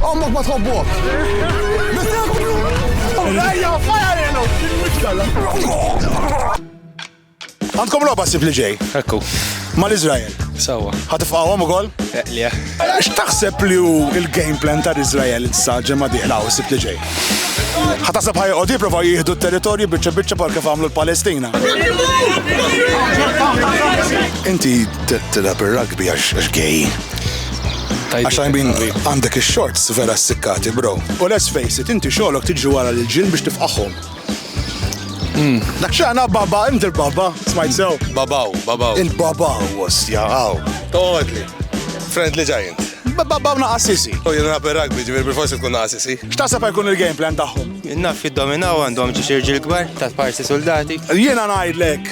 Ommok ma tħobbok! Ejja, fajarelu! Għandkom loba sib li ġej? Ekku. Ma l-Izrael? Sawa. Ħatifqawhom ukoll? Eqlija. Eh, x'taħseb li hu il-game plan ta' Izrael issa ġemma diħla u sib li ġej? Ħatasab ħajqod jipprova jieħdu t-territorju biċċa biċċa par kif għamlu l-Palestina. Inti tilab ir-rugby għax gay. Għax I mean, għandek il-shorts vera s-sikkati, bro. U let's face it, inti xolok tiġi wara l-ġin biex tifqaħom. Hmm. Dak xaħna baba, inti l-baba, smajt sew. Babaw, babaw. Int babaw, was, jaħaw. Toħodli. Friend li ġajint. Babaw na assisi. U jena per rugby, ġivir bil-forsi tkun na assisi. Xtasab jkun il-game plan taħħom? Naf id-dominaw għandhom ġiġirġi l-gbar, ta' parsi soldati. Jena najdlek,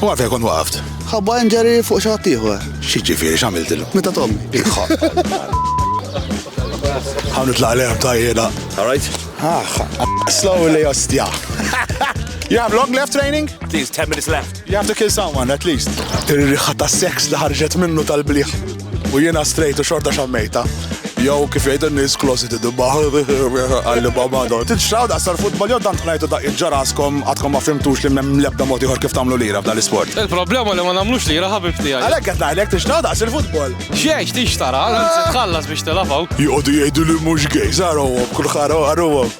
U għafja kont waqaft. Ħabba injury fuq xi ħadd ieħor. Xi ġifieri x'għamiltilhom? Meta Tommy. Ħawn itlaq l-erb ta' jiena. All right? Ah, slowly ostja. You have long left training? Please, 10 minutes left. You have to kill someone, at least. Ir-riħa ta' seks li ħarġet minnu tal-bliħ. U jiena strejt u xorta xammejta. Jow kif jgħidu n-nies klosi tidibba għalli baba għandhom. Titxraw daqsar futbol jew tant ħnajtu daqq ġaraskom għadkom ma fimtux li m'hemm l-ebda mod ieħor kif tagħmlu lira f'dan l-isport. Il-problema li ma nagħmlux lira ħabib tiegħi. Għalhekk qed ngħidlek tixtraw daqs il-futbol. Xiex tixtara, tħallas biex tilafgħu. Joqogħdu jgħidu li mhux gej, żarhom kull ħara ħarhom.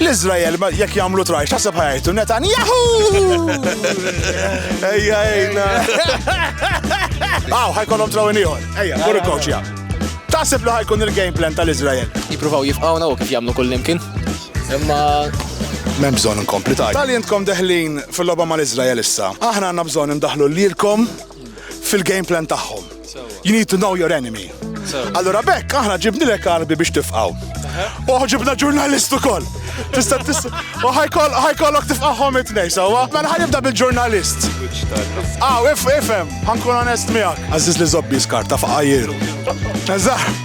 L-Izrael, jekk jagħmlu traj, x'taħseb ħajtu Netanyahu! Ejja, ejna. Aw, ħajkolhom traw ieħor. Ejja, morru kawċja. Taħseb li ħajkun il-game plan tal-Izrael? Jippruvaw jifqawna u kif jagħmlu kullimkien. Imma Mem bżon nkompli tajt. Tal jentkom deħlin fil-loba mal-Izrael issa. Aħna għanna bżon ndaħlu l-lilkom fil-game plan tagħhom. You need to know your enemy. Allora bekk aħna ġibni lek arbi biex tifqaw. Uħ ġibna ġurnalist ukoll. Tista' tista' u ħajkollok tifqahom it-tnej sewwa. Mela ħanibda bil-ġurnalist. Aw, ah, ifhem, ħankun onest miegħek. Għażiż li żobbi skarta faqajjir. Eżatt.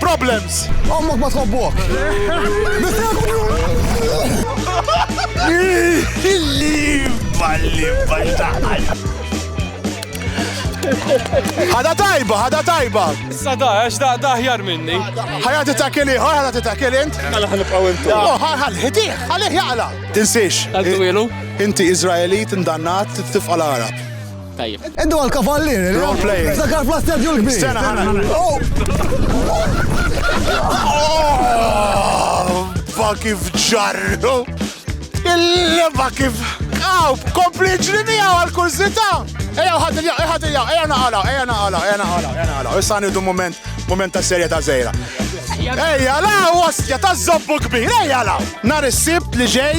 Problems! Ommok ma tħobbok! Illi balli baltaħal! Hada tajba, hada tajba! Issa da, għax da, da ħjar minni. Ħajja titakili, ħajja titakili int. Għala ħan nibqaw intu. Oh, ħal, ħitiħ, ħalih jaqla. Tinsiex. Għal-twilu. Inti Izraelit, indannat, tifqa l-Arab. Tajjeb. Iddu għal kavallier. Role play. Ftakar fl stadju l-kbir. Sena ħana. Oh! Ba kif ġarru. Il-leba kif. Aw, kompli ġri miegħu għal kursita. Ejja ħadd il-jaw, ejja ħadd il-jaw, ejja naqala, ejja naqala, ejja naqala, ejja naqala. Issa nidu moment, moment ta' serja ta' zejra. Ejja la, wasja ta' zobbu kbir, ejja la. Nar is-sibt li ġej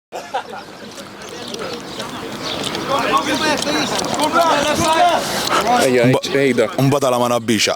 Ejja, ejda. Mbadala ma nabbixa.